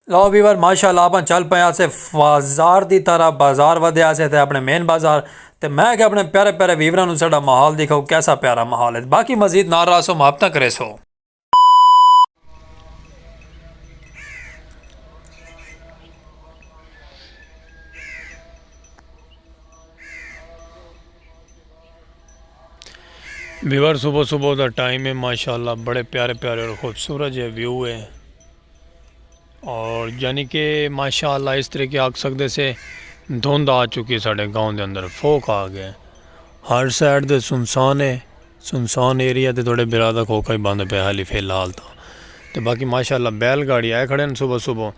لو viewer ماشاء اللہ آپ چل پائے آسے بازار دی طرح بازار ودے آسے تے اپنے مین بازار تے میں کہ اپنے پیارے پیارے ویوران نو سڑا محال دیکھو کیسا پیارا محال ہے باقی مزید نار رہا سو محبتہ کرے سو ویور صبح صبح دا ٹائم ہے ماشاءاللہ بڑے پیارے پیارے اور خوبصورت جے ویو ہے اور یعنی کہ ماشاءاللہ اس طرح کے آکھ سکتے سے دھند آ چکی ساڑھے گاؤں دے اندر فوک آ گئے ہر سائڈ دے سنسان ہے سنسان ایریا دے تھوڑے برادہ کھوکا ہی بند پہ حالی فی الحال تا تو باقی ماشاءاللہ بیل گاڑی آئے کھڑے ہیں صبح صبح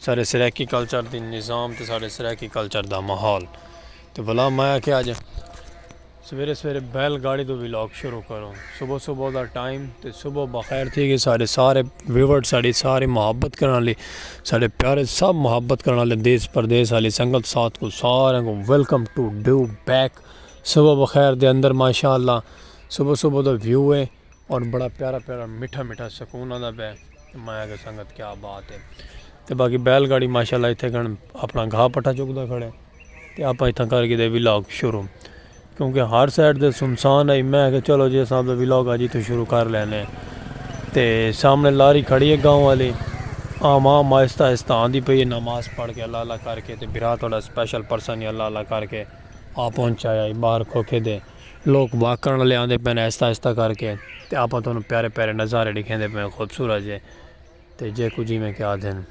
سارے سریکی کلچر دی نظام تے سارے سریکی کلچر دا محول تو بلا مایا کہ آج سویرے سویرے بیل گاڑی تو ولاگ شروع کرو صبح صبح دا ٹائم تے صبح بخیر تھی گئے سارے سارے ویورڈ ساری سارے محبت کرنا لی سارے پیارے سب محبت کرنا لی دیس پردیس آلی سنگت ساتھ کو سارے کو ویلکم ٹو ڈیو بیک صبح بخیر دے اندر ماشاءاللہ صبح صبح دا ویو ہے اور بڑا پیارا پیارا مٹھا مٹھا سکون آندا پے میں آکھیا سنگت کیا بات ہے تے باقی بیل گاڑی ماشاءاللہ اتھے گھن اپنا گھا پٹھا چکدا کھڑے تے آپا اتھا کر گھدے ولاگ شروع کیونکہ ہر سائیڈ تے سنسان ہے میں آکھیا چلو جی اساں اپنا ولاگ اج اتھوں شروع کر لینے تے سامنے لاری کھڑی ہے گاؤں والی عام عام آہستہ آہستہ آندی پئی ہے نماز پڑھ کے اللہ اللہ کر کے تے برا تھوڑا سپیشل پرسن ہی اللہ اللہ کر کے آ پہنچایا ہے باہر کھوکھے دے لوک واک کرن والے آندے پئے نے آہستہ آہستہ کر کے تے آپاں تانوں پیارے پیارے نظارے ڈکھیندے پئے ہیں خوبصورت جے تے جے کچھ جیویں کہ آدھے ہیں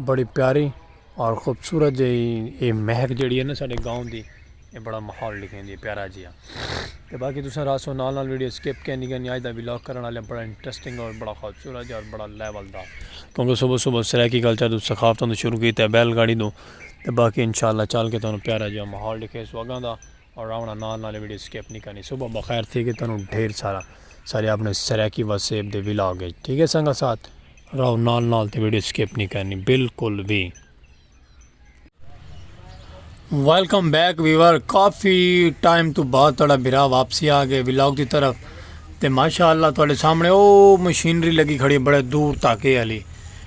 بڑی پیاری اور خوبصورت جے یہ مہک جیڑی ہے نا ساڈے گاؤں دی یہ بڑا ماحول ڈکھیندی ہے پیارا جی ہے تے باقی تساں راسو نال نال ویڈیو سکپ کینی کینی آج دا ولاگ کرن والے بڑا انٹرسٹنگ اور بڑا خوبصورت جے اور بڑا لیول دا کیونکہ صبح صبح سرائیکی کلچر تو ثقافتوں تو شروع کیتے بیل گاڑی تو تے باقی انشاءاللہ چل کے تانوں پیارا جیہا ماحول ڈکھے سو اگاں دا اور راونا نال نال ویڈیو سکپ نہیں کرنی صبح بخیر تھی کہ تانوں ڈھیر سارا سارے اپنے سرائیکی واسیب دے ولاگ ہے ٹھیک ہے سنگا ساتھ راو نال نال تے ویڈیو سکپ نہیں کرنی بالکل بھی ویلکم بیک ویور کافی ٹائم تو بعد تھوڑا برا واپسی آ گئے ولاگ کی طرف تے ماشاءاللہ تھوڑے سامنے او مشینری لگی کھڑی بڑے دور تاکے علی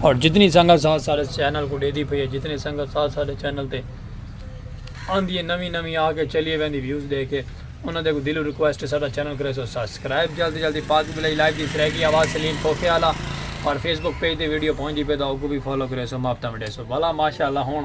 اور جتنی سنگت ساتھ سارے چینل کو دے دی پئی ہے جتنی سنگت ساتھ سارے چینل تے آندھی ہے نوی نوی آ کے چلیے ویندی ویوز دے کے انہاں دے کو دلو ریکویسٹ ہے سارا چینل کرے سو سبسکرائب جلدی جلدی پاک بلائی لائیو دی سریکی آواز سلیم کھوکھے آلا اور فیس بک پیج دے ویڈیو پہنچ دی پہ دا اوکو بھی فالو کرے سو ماپتا مڈے سو بھلا ماشاءاللہ ہون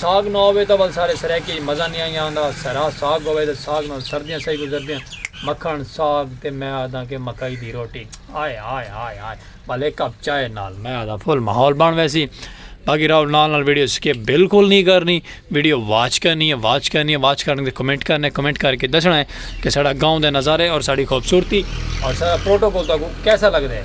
ساگ نہ ہووے تاں ول سارے سرائیکی اچ مزہ نی آئیاں ہوندا۔ سرا ساگ ہووے تاں ساگ نال سردیاں سہی گزردیاں۔ مکھݨ، ساگ تے میں آہداں کہ مکئی دی روٹی۔ ہائے ہائے ہائے ہائے ول ہک کپ چائے نال میں آہداں فل ماحول بݨ ویسی۔ باقی رہو نال نال ویڈیو سکپ بالکل نی کرݨی۔ ویڈیو واچ کرݨی ہے واچ کرݨی ہے واچ کرݨی تے کمنٹ کرݨا ہے کمنٹ کر کے دسݨا ہے کہ ساݙا گاؤں دے نظارے اور ساݙی خوبصورتی اور ساݙا پروٹوکول تہاکوں کیسا لڳدا ہے۔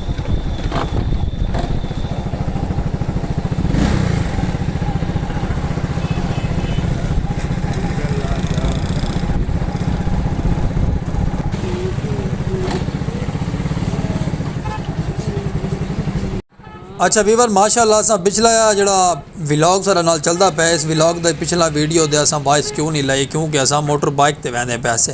اچھا ویور ماشاء اللہ سا پچھلا جڑا ولاگ سارا نال چلتا پیا اس ولاگ دا پچھلا ویڈیو دے اساں وائس کیوں نہیں لائی کیونکہ اساں موٹر بائک تے ویندے پیسے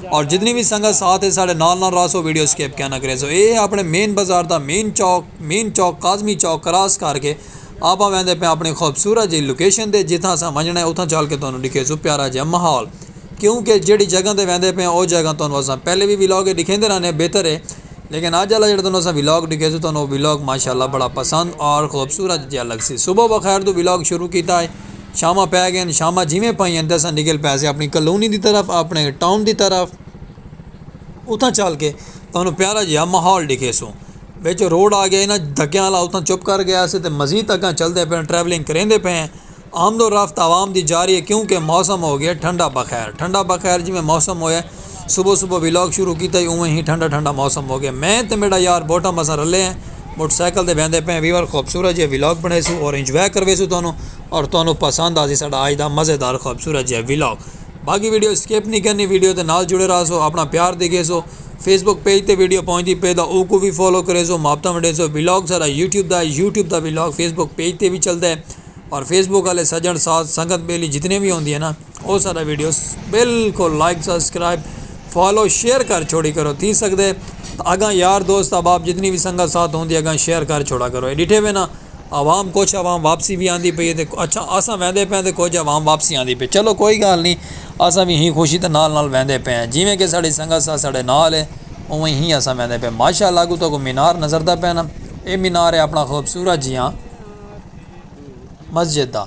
اور جتنی وی سنگت ساتھ ہے ساڈے نال نال رہسو ویڈیو سکپ کیا نہ کریسو اے اپنے مین بازار دا مین چوک مین چوک کاظمی چوک کراس کر کے آپاں ویندے پیاں اپنی خوبصورت جئی لوکیشن تے جتھاں اساں ونجنڑاں ہے اتھاں چل کے تہانوں ڈکھیسوں پیارا جیہا ماحول کیوں کہ جیہڑی جگہ تے ویندے پیاں او جگہ تہانوں اساں پہلے وی ولاگ اچ ڈکھیندے رہنے ہیں بہتر ہے لیکن اج آلا جیہڑا تہانوں اساں ولاگ ڈکھیسوں تہانوں او ولاگ ماشاءاللہ بڑا پسند اور خوبصورت جیہا لگسی صبح بخیر توں ولاگ شروع کیتا ہے شاماں پے گئین شاماں جیویں پائیاں تھے اساں نکل پے سے اپنی کالونی دی طرف اپنے ٹاؤن دی طرف اتھاں چل کے تہانوں پیارا جیہا ماحول ڈکھے سوں بچ روڈ آ گیا نا دھکیاں والا اتھاں چپ کر گیا سے تو مزید اگاں چلتے پے ٹریولنگ کریندے پے ہیں آمد و رفت عوام دی جاری ہے کیونکہ موسم ہو گیا ٹھنڈا بخیر ٹھنڈا بخیر جیویں موسم ہوئے صبح صبح ویلاگ شروع کیتا ہی اوویں ہی ٹھنڈا ٹھنڈا موسم ہو گیا میں تے میڈا یار بوٹم اساں رلے ہیں موٹر سائیکل تے ویندے پئے ہیں ویور خوبصورت جیہا ویلاگ بنڑیسوں اور انجوائے کرویسوں تہانوں اور تہانوں پسند آسی ساڈا آج دا مزیدار خوبصورت جیہا ویلاگ باقی ویڈیو سکپ نی کرنی ویڈیو دے نال جڑے راہسو اپنا پیار دیکھیسو فیس بک پیج تے ویڈیو پہنچدی پئے تاں اوکوں وی فالو کریسو محبتاں ونڈیسو ویلاگ ساڈا یوٹیوب دا ہے یوٹیوب دا ویلاگ فیس بک پیج تے وی چلدا ہے اور فیس بک آلے سجنڑ ساتھ سنگت بیلی جتنے وی ہوندی ہے نا او سارا ویڈیو بالکل لائک سبسکرائب فالو شیئر کر چھوڑی کرو تھی سکدے اگاں یار دوست احباب جتنی بھی سنگت ساتھ ہوندی اگاں شیئر کر چھوڑا کرو اے ڈٹھے وینا عوام کچھ عوام واپسی بھی آندی پئی تے اچھا اساں ویندے پئے تے کچھ عوام واپسی آندی پئی چلو کوئی گال نہیں اساں بھی ہی خوشی تے نال نال ویندے پئے ہیں جیویں کہ ساڑی سنگت ساتھ ساڑے نال ہے اوویں ہی اساں ویندے پئے ماشاءاللہ اگو تو کو مینار نظر دا پئے نا اے مینار ہے اپنا خوبصورت جیاں مسجد دا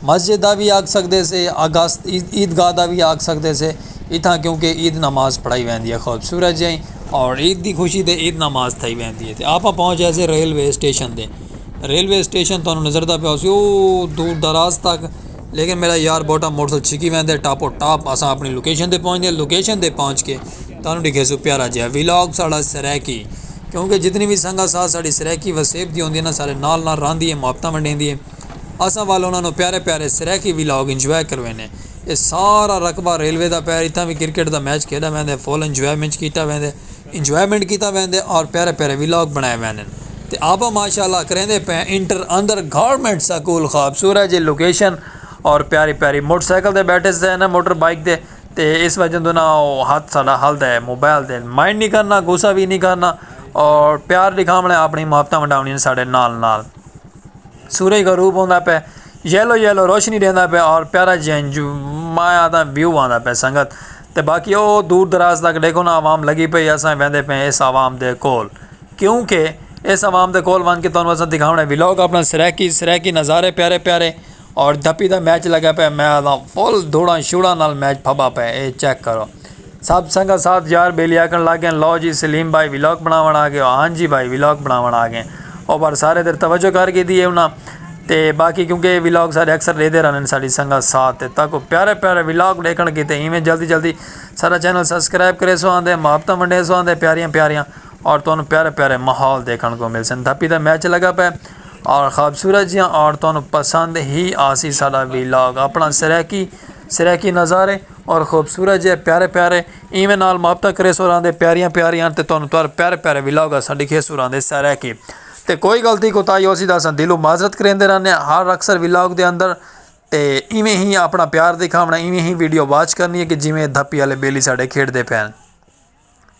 مسجد دا وی آکھ سکدے سے اگست عید گاہ دا وی آکھ سکدے سے اتھاں کیونکہ عید نماز پڑھائی ویندی ہے خوبصورت جئیں اور عید دی خوشی تے عید نماز تھائی ویندی ہے تے آپاں پہنچ گئے سے ریلوے اسٹیشن تے ریلوے اسٹیشن تانوں نظر دا پیا ہوسی اوہ دور دراز تک لیکن میرا یار بوٹا موٹر سائیکل چھکی ویندے ٹاپو ٹاپ اساں اپنی لوکیشن تے پہنچ گئے لوکیشن تے پہنچ کے تانوں ڈکھیسوں پیارا جیہا ویلاگ ساڑا سرائیکی کیونکہ جتنی وی سنگت ساتھ ساڑی سرائیکی وسیب دی ہوندی ہے نا ساڑے نال نال راہندی ہے محبتاں ونڈیندی ہے اساں ول انہاں نو پیارے پیارے سرائیکی ویلاگ انجوائے کروینے اے سارا رقبہ ریلوے دا پئے اتھاں وی کرکٹ دا میچ کھیڈا ویندے فل انجوائمنچ کیتا ویندے انجوائمنٹ کیتا ویندے اور پیارے پیارے ویلاگ بنائے ویندن تے آپاں ماشاءاللہ کریندے پئے انٹر اندر گورنمنٹ سکول خوبصورت جی لوکیشن اور پیاری پیاری موٹر سائیکل تے بیٹھے سے نا موٹر بائیک تے۔ تے اس وجہ توں نہ او ہتھ ساڈا ہلدا ہے موبائل تے مائنڈ نہیں کرنا غصہ وی نہیں کرنا اور پیار ݙکھاوݨ اپݨی محبتاں ونڈاوݨی ہیں ساڈے نال نال سورج غروب ہوندا پئے یلو یلو روشنی ݙیندا پئے اور پیارا جیہاں انجو میں آکھداں ویو آندا پئے سنگت تے باقی او دور دراز تک ݙیکھو نا عوام لڳی پئی اساں ویندے پئے ہیں اس عوام دے کول کیونکہ اس عوام دے کول ونڄ کے تہاݙے واسطے ݙکھاوݨ ہے ولاگ اپݨا سرائیکی سرائیکی نظارے پیارے پیارے اور دھپی دا میچ لگا پئے میں آدھاں فل دھوڑاں شوڑاں نال میچ پھبا پئے اے چیک کرو سب سنگا ساتھ یار بیلی آکھن لگ گئن لو جی سلیم بھائی ولاگ بناون آ گئے ہو ہاں جی بھائی ولاگ بناون آ گئے او پر سارے تیر توجہ کر گھدی اے انہاں تے باقی کیونکہ اے ولاگ سارے اکثر ڈیدے رہندن ساڈی سنگا ساتھ تے تاکو پیارے پیارے ولاگ ڈیکھن کیتے ایویں جلدی جلدی ساڈا چینل سبسکرائب کریسو آندے محبتاں ونڈیسو آندے پیاریاں پیاریاں اور تہانوں پیارے پیارے ماحول دیکھن کو مل سن دھپی دا میچ لگا پے اور خوبصورت جی اور تہانوں پسند ہی آسی ساڈا ویلاگ اپنا سریکی سریکی نظارے اور خوبصورت جی پیارے پیارے ایویں نال محبت کرے سو راندے پیاریاں پیاریاں تے تہانوں تر پیارے پیارے ویلاگ اسا ڈیکھے سو راندے سریکی تے کوئی غلطی کوتاہی ہوسی دا اسا دلو معذرت کریندے رہنے ہر اکثر ویلاگ دے اندر تے ایویں ہی اپنا پیار دکھاونا ایویں ہی ویڈیو واچ کرنی ہے کہ جویں دھپی والے بیلی ساڈے کھیڈ دے پین۔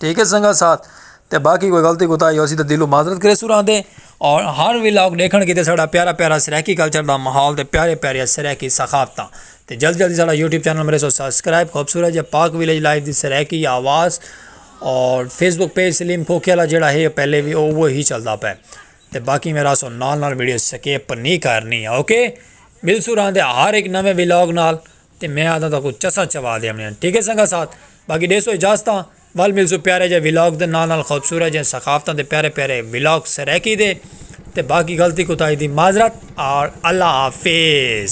ٹھیک ہے سنگا ساتھ تے باقی کوئی غلطی کوتا ہی ہو سی تے دلوں معذرت کرے سوران دے اور ہر ویلاگ دیکھن کی تے ساڑھا پیارا پیارا سرائیکی کلچر دا محال تے پیارے پیارے سرائیکی سخافتاں تے جلد جلد ساڑھا یوٹیوب چینل میرے سو سبسکرائب خوبصورت جے پاک ویلیج لائف دی سرائیکی آواز اور فیس بک پیج سلیم کھوکھے والا جڑا ہے پہلے بھی او وہ ہی چلدا پے تے باقی میرا سو نال نال ویڈیو سکیپ نہیں کرنی اوکے مل سوران دے ہر ایک نویں ویلاگ نال تے میں آہداں تہاکوں چسا چوا دیونیاں ٹھیک ہے سنگت ساتھ باقی ڈیسو اجازتاں ول ملسوں پیارے جے ولاگ دے نال نال خوبصورت جے ثقافتاں دے پیارے پیارے ولاگ سرائیکی دے تے باقی غلطی کوتاہی دی معذرت آل اللہ حافظ۔